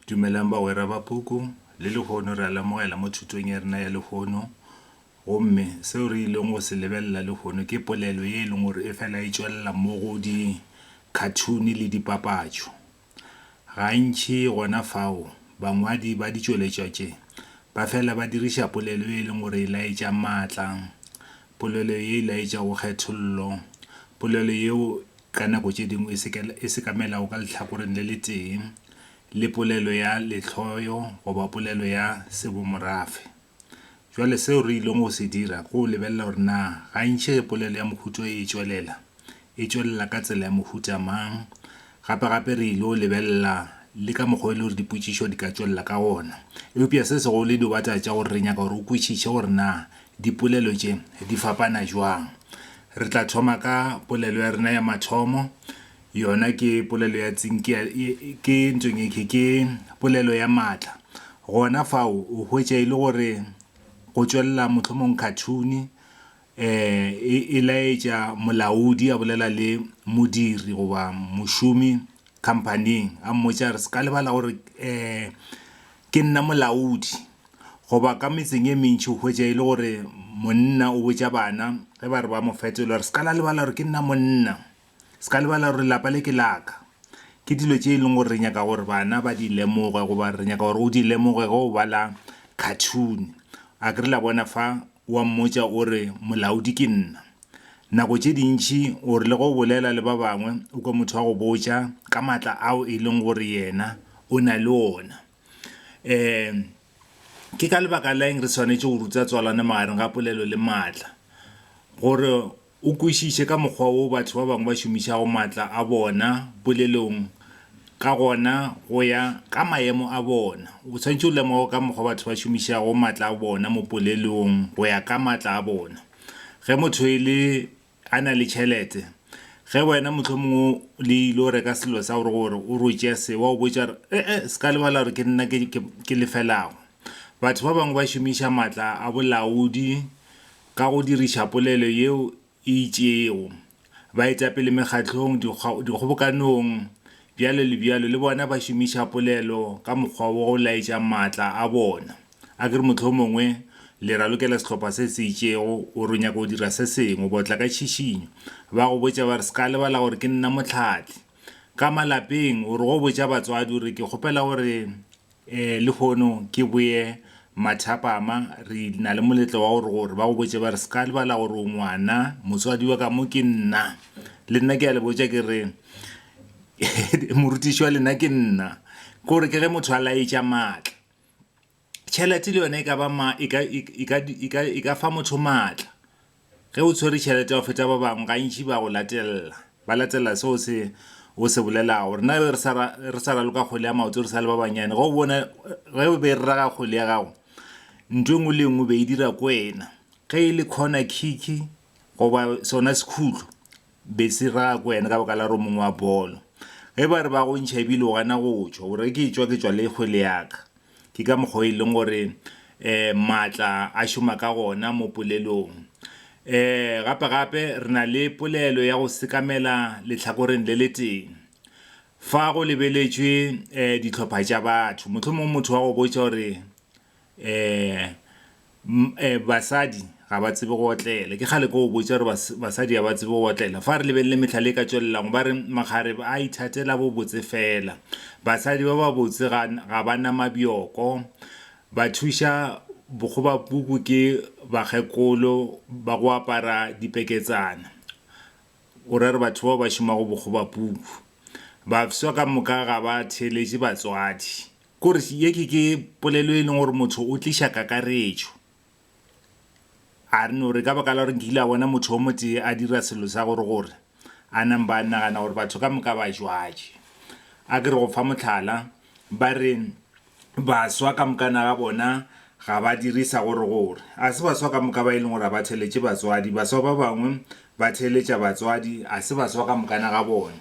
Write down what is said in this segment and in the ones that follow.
Dumelang bagwera ba puku. Le lehono re a lemogela mo thutong ya rena ya lehono, gomme seo re ileng go se lebelela lehono ke polelo ye e leng gore e fela e tšwelela mo go dikhathuni le dipapatšo. Gantši gona fao, bangwadi ba ditšweletšwa tše ba fela ba diriša polelo ye e leng gore e laetša maatla, polelo ye e laetšago kgethollo, polelo yeo ka nako tše dingwe e sekamelago ka lehlakoreng le letee le polelo ya lehloyo goba polelo ya sebomorafe. Bjale seo re ilego go se dira ke go lebelela gore na gantši ge polelo ya mohuta wo e tšwelela, e tšwelela ka tsela ya mohuta mang. Gape-gape re il'o lebelela le ka mokgwa wo e lego gore dipotšišo di ka tšwelela ka gona. Eupša se segolo e diobataba tša gore re nyaka gore o kwešiše gore na dipolelo tše di fapana bjang. Re tla thoma ka polelo ya rena ya mathomo, yona ke polelo ya tsinki ya, ke ntong e khe, ke polelo ya maatla. Gona fao o hwetša e le gore go tšwelela mohlomong khathuni e, e laetša molaodi a bolela le modiri goba mošomi khamphaning a mmotša a re, Se ka lebala gore Ke nna molaodi. Goba ka metseng e mentši o hwetša e le gore monna o botša bana ge ba re ba mo fetola gore, Se ka la lebala gore ke nna monna. Se ka lebala gore lapa le ke la ka. Ke dilo tše e leng gore re nyaka gore bana ba di lemoge goba re nyaka gore o di lemoge ge o bala khathune. A ke re la bona fa? O a mmotša o re, Molaodi ke nna. Nako tše dintši o rile ge o bolela le ba bangwe o kwe motho a go botša ka matla ao e leng gore yena o na le ona. Um Ke ka lebaka la eng re swanetše go ruta tswalano magareng ga polelo le matla? Gore o kwešiše ka mokgwa wo batho ba bangwe ba šomišago matla a bona polelong ka gona go ya ka maemo a bona, o swanetše o lemoge ka mokgwa batho ba šomišago matla a bona mo polelong go ya ka matla a bona. Ge motho e le a na le tšhelete, ge wena mohlomongwe le ile o reka selo sa gore gore o rotše se, wa o botša re, e-e, se ka lebala gore ke nna ke, ke, ke lefelago. Batho ba bangwe ba šomiša matla a bolaodi ka go diriša polelo yeo e itšego. Baetapele mekgatlong, dikgobokanong, bjalo le bjalo, le bona ba šomiša polelo ka mokgwa wo go laetša maatla a bona. A ke re mohlomongwe le ralokela sehlopha se se itšego gore o nyaka go dira se sengwe, ba tla ka tšhišinyo, ba go botša ba re, Seka lebala gore ke nna mohlahli. Ka malapeng, o re go botša batswadi o re, Ke kgopela gore Ee, lehono ke boye mathapama. Re na le moletlo wa gore gore ba go botše ba re, Se ka lebala gore o ngwana. Motswadi wa ka mo ke nna. Le nna ke a le botša ke re, Morutiši wa lena ke nna. Ke gore ke ge motho a laetša maatla. Tšhelete le yona e ka ba e ka fa motho maatla. Ge o tshwere tšhelete ya go feta ba bangwe, gantši ba go latelela. Ba latelela seo se o se bolelago. Rena re be re sa raloka kgole ya maoto re sa le ba bannyane. Ge o bona, ge o be raga kgole ya gago, ntho e nngwe le e nngwe o be e dira ko wena. Ge e le corner kick goba sona sekhutlo, Bese ra ko yena ka baka la gore o mongwe wa bolo. Ge ba re ba go ntšha ebile o gana go tšwa, o re ke tšwa ke tšwa le kgwele ya ka. Ke ka mokgwa o e leng gore um maatla a šoma ka gona mo polelong. Um gape gape re na le polelo ya go sekamela lehlakoreng le letee. Fa go lebeletšwe um dihlopha tša batho, mohlomongwe motho wa go botša gore, Ee, basadi ga ba tsebe go otlela. Ke kgale ke go botša gore basadi ga ba tsebe go otlela. Fa re lebelele mehlala e ka tšwelelago, ba re, Makgarebe a ithatela bobotse feela. Basadi ba babotse ga ga ba na mabjoko. Ba thuša bokgobapuku ke bakgekolo ba go apara dipeketsana. O ra gore batho bao ba šomago bokgobapuku. Bafsa ka moka ga ba theeletše batswadi. Kores ye ke ke polelo e leng gore motho o tliša kakaretšo. A re no re ka baka la gore nkile a bona motho o motee a dira selo sa gore gore a namba a nagana gore batho ka moka ba jwatše. A ke re go fa mohlala, ba re baswa ka mokana ga bona Ga ba dire sa gore gore. A se baswa ka moka ba e leng gore a ba theeletše batswadi. Baswa ba bangwe ba theeletša batswadi, a se baswa ka moka na ga bone.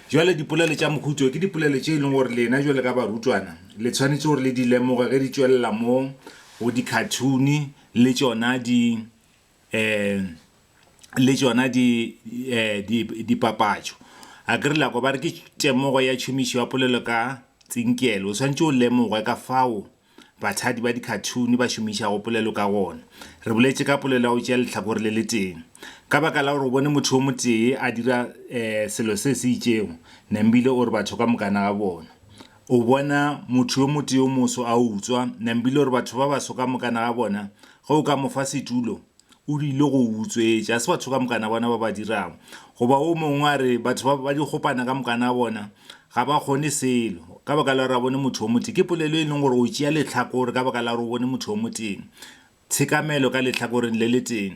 Bjale dipolelo tša mohuta wo ke dipolelo tše e leng gore lena bjalo ka barutwana le tshwanetše gore le di lemoge ge di tšwelela mo go dikhathuni le tšona di, um le tšona di, um dipapatšo. A ke re la kwa? Ba re ke temogo ya tšhomišo ya polelo ka tsinkelo. O swanetše o lemoge ka fao. Bathadi ba dikhathuni ba šomišago polelo ka gona. Re boletše ka polelo ya go tšea lehlakore le letee. Ka baka la gore o bone motho yo motee a dira selo se se itšego, Nambile o re batho ka mokana ga bona. O bona motho yo motee yo moso a utswa, Nambile o re batho ba baso ka mokana ga bona. Ge o ka mo fa setulo, O rile go o utswetša. A se batho ka mokana bona ba ba dirago? Goba wo mongwe a re, Batho ba, ba dikgopana ka mokana bona ga ba kgone selo, ka baka la gore a bone motho o motee. Ke polelo e leng gore o tšea lehlakore ka baka la gore o bone motho o motee. Tshekamelo ka lehlakoreng le le tee.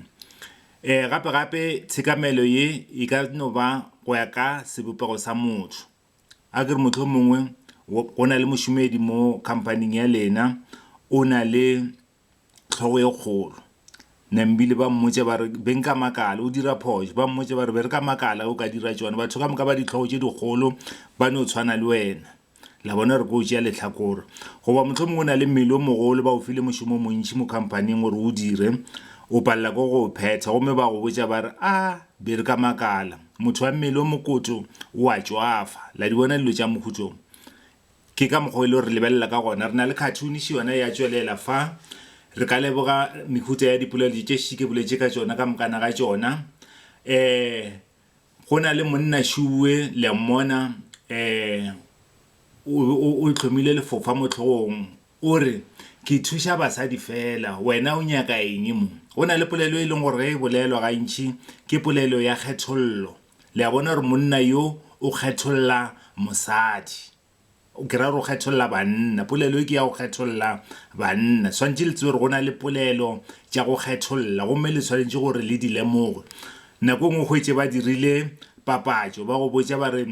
E, gape, gape tshekamelo ye e ka no ba go ya ka sebopego sa motho. A ke re mohlomongwe go na le mošomedi mo khamphaning ya lena, o na le. hlogo e kgolo. Nambili ba mmotše ba re beng ka makala o dira phošo ba mmotše ba re be re ka makala o ka dira tšone batho ka moka ba dihlogo tše dikgolo ba no tshwana le wena la bona re ko tšea letlhakore goba motlho mongwe o na le mmele o mogolo ba o file mošomo o montši mo khamphaning gore o dire o palela ko go phetha gomme ba go botša ba re a be re ka makala motho wa mmele o mokoto o a tšwafa la di bona dilo tša mohuto Ke ka mokgwa o e lego re lebelela ka gona. Re na le khathuniši yona ya tšwelela fa. Re ka leboga mehuta ya dipolelodi tše ši ke boletše ka tšona ka mokana ga tšona. Um Go na le monna šuwe, le a mmona, um o, o, o hlomile lefofa mo hlogong. O re, Ke thuša basadi feela. Wena o nyaka eng mo? Go na le polelo e leng gore ge e bolelwa gantši ke polelo ya kgethollo. Le a bona gore monna yo o kgetholla mosadi. Ke ra gore o kgetholla banna. Polelo e ke ya go kgetholla banna. Swanetše le tsebe gore go na le polelo tša go kgetholla gomme le swanetše gore le di lemoge. Nako e nngwe o hwetše ba dirile papatšo, ba go botša ba re,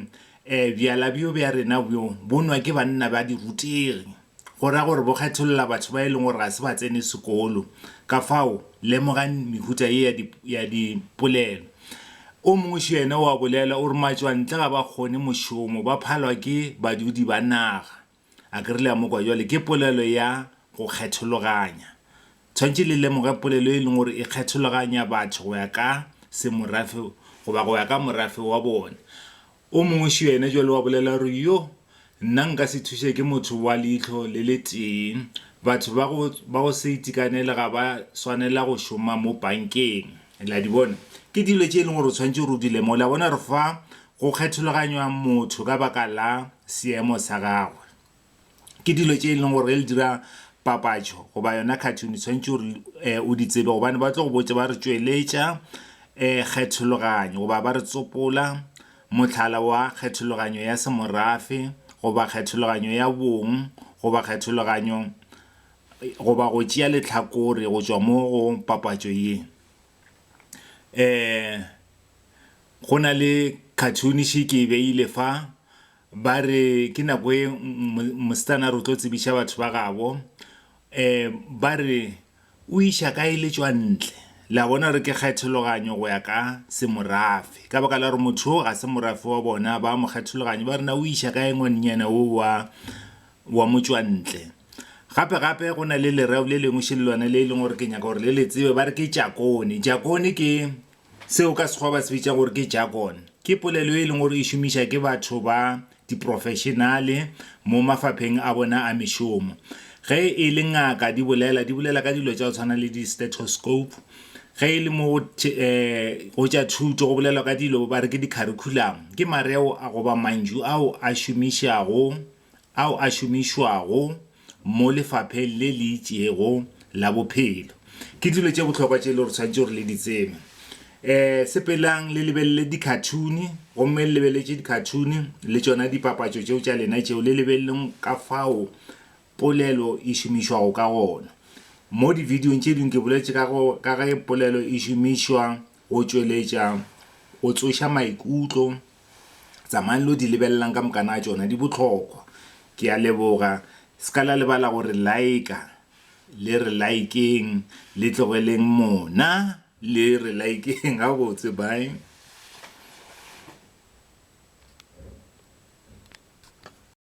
Ee, bjala bjo bja rena bjo bo nwa ke banna ba dirutegi, go ra gore bo kgetholola batho ba e leng gore ga se ba tsene sekolo. Ka fao, lemogang mehuta ye ya di, ya dipolelo. O mongši yena o a bolela, o re, Matšwantle ga ba kgone mošomo, ba phalwa ke badudi ba naga. A ke re le a mo kwa bjale? Ke polelo ya go kgethologanya. Tshwanetse le lemoge polelo e leng gore e kgethologanya batho go ya ka semorafe goba go ya ka morafe wa bone. O mongwešo yena bjale wa bolela gore, Yo, nna nka se thuše ke motho wa leihlo le le tee. Batho ba go, ba go se itekanele ga ba swanela go šoma mo bankeng. Le a di bona? Ke dilo tše e leng gore o tshwanetse gore o di lemoge. Le a bona gore fa go kgethologanywa motho ka baka la seemo sa gagwe, ke dilo tše e leng gore ge le dira papatšo goba yona cartoon, o tshwanetse gore um o di tsebe gobane ba tlo go botša ba re, Tšweletša um kgethologanyo goba ba re, Tsopola mohlala wa kgethologanyo ya semorafe goba kgethologanyo ya bong goba kgethologanyo goba go tšea lehlakore go tšwa mo go papatšo ye. E, go na le khathuni še ke e beile fa, ba re ke nako ye mosetsana a re o tlo tsebiša batho ba gabo. E, ba re o iša ka e le tšwa ntle. Le a bona gore ke kgethologanyo go ya ka semorafe. Ka baka la gore motho o ga se morafe wa bona, ba mo kgethologanyo, ba re na o iša kae ngwanenyana o wa motšwantle. Gape gape go na le lereo le lengwe šele lona le e leng gore ke nyaka gore le le tsebe ba re ke jakone. Jakone ke seo ka sekgowa ba se bitša gore ke jargon. Ke polelo e leng gore e šomiša ke batho ba diprofešenale mo mafapheng a bona a mešomo. Ge e le ngaka di bolela, di bolela ka dilo tša go tshwana le di-stethoscope. Ge e le mo go tša thuto go bolelwa ka dilo ba re ke di-curriculum. Ke mareo goba mantšu ao a šomišago ao a šomišwago mo lefapheng le le itšego la bophelo. Ke dilo tše bohlokwa tše e le gore tshwanetse gore le di tsebe. Um sepelang le lebelele dikhathuni, gomme le lebeletše dikhathuni le tšona dipapatšo tšeo tša lena tšeo, le lebeleleng ka fao polelo e šomišwago ka gona. Mo dividiong tše dingwe ke boletše ka go ka ge polelo e šomišwa go tšweletša go tsoša maikutlo Tsamayang lo di lebelelang ka moka na tšona di bohlokwa. Ke a leboga. Se ka la lebala go re like-a. Le re like-eng, le tlogeleng mona, le re like-eng gabotse. Bye.